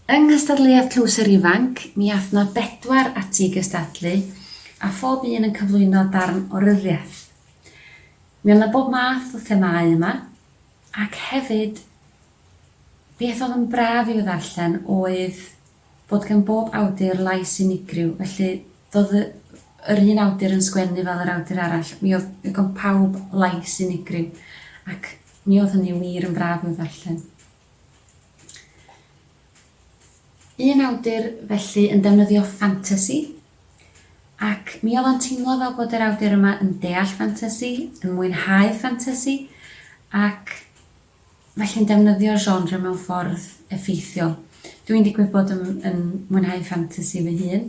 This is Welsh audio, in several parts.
Yng nghystadleuaeth Tlws yr Ifanc, mi aeth 'na bedwar ati i gystadlu, a phob un yn cyflwyno darn o ryddiaith. Mi oedd 'na bob math o themâu yma, ac hefyd Beth oedd yn braf i'w ddarllen oedd bod gan bob awdur lais unigryw, felly doedd yr un awdur yn sgwennu fel yr awdur arall, mi oedd gan pawb lais unigryw, ac mi oedd hynny wir yn braf i'w ddarllen. Un awdur felly yn defnyddio ffantasi, ac mi oedd o'n teimlo fel bod yr awdur yma yn deall ffantasi, yn mwynhau ffantasi, ac felly'n defnyddio'r genre mewn ffordd effeithiol. Dw i'n digwydd bod yn yn mwynhau ffantasi fy hun,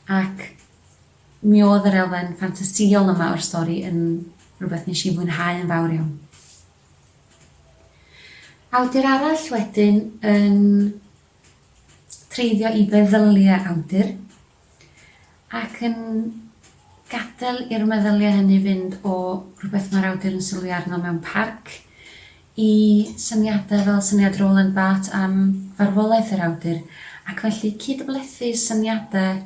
ac mi oedd yr elfen ffantasïol yma o'r stori yn rhywbeth nes i fwynhau yn fawr iawn. Awdur arall wedyn yn treiddio i feddyliau awdur. Ac yn gadael i'r meddyliau hynny fynd o rhywbeth mae'r awdur yn sylwi arno mewn parc, i syniadau fel syniad Roland Barthes am farwolaeth yr awdur, ac felly cyd-blethu syniadau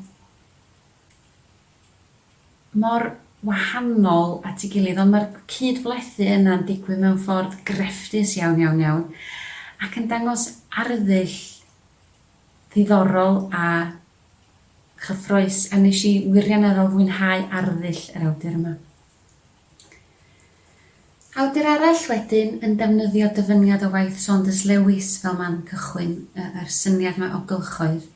mor wahanol at ei gilydd, ond mae'r cyd-blethu yna'n digwydd mewn ffordd grefftus iawn, iawn, iawn, ac yn dangos arddull ddiddorol a Cyffrous, a nes i wirioneddol fwynhau arddull yr awdur yma. Awdur arall wedyn yn defnyddio dyfyniad o waith Saunders Lewis fel man cychwyn, yr syniad 'ma o gylchoedd.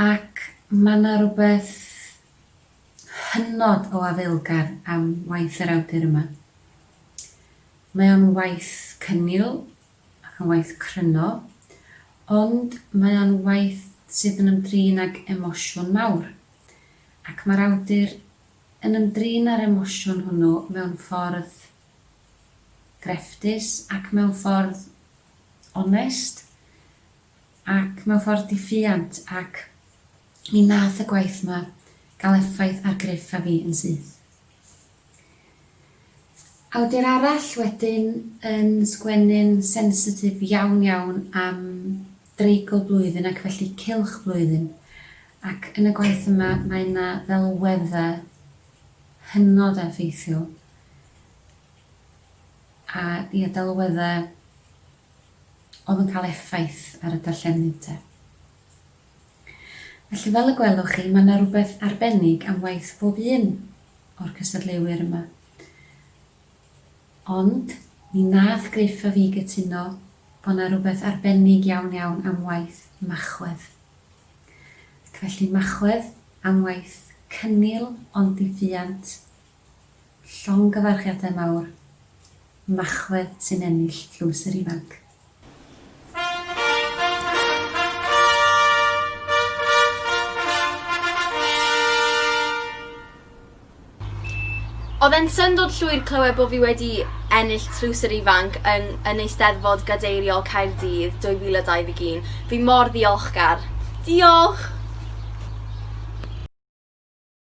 Ac ma' 'na rwbeth hynod o afaelgar am waith yr awdur yma. Mae o'n waith cynnil, Mae'n waith cryno, ond mae o'n waith sydd yn ymdrin ag emosiwn mawr, ac mae'r awdur yn ymdrin â'r emosiwn hwnnw mewn ffordd grefftus ac mewn ffordd onest ac mewn ffordd di-ffiant ac mi nath y gwaith 'ma gael effaith ar Griff a fi yn syth. Awdur arall wedyn yn sgwennu'n sensitif iawn iawn am dreigl blwyddyn ac felly cylch blwyddyn ac yn y gwaith yma mae 'na ddelweddau hynod effeithiol a ia delweddau oedd yn cael effaith ar y darllenydd 'te. Felly fel y gwelwch chi, mae yna rywbeth arbennig am waith pob un o'r cystadleuwyr yma. Ond, mi wnaeth Griff a fi gytuno bod yna rywbeth arbennig iawn iawn am waith Machwedd. Ac felly Machwedd am waith cynnil ond ddifuant Llongyfarchiadau mawr, Machwedd sy'n ennill Tlws yr Ifanc. Oedd e'n syndod llwyr clywed bod fi wedi ennill Tlws yr Ifanc yn yn Eisteddfod Gadeiriol Caerdydd 2021. Fi mor ddiolchgar. Diolch!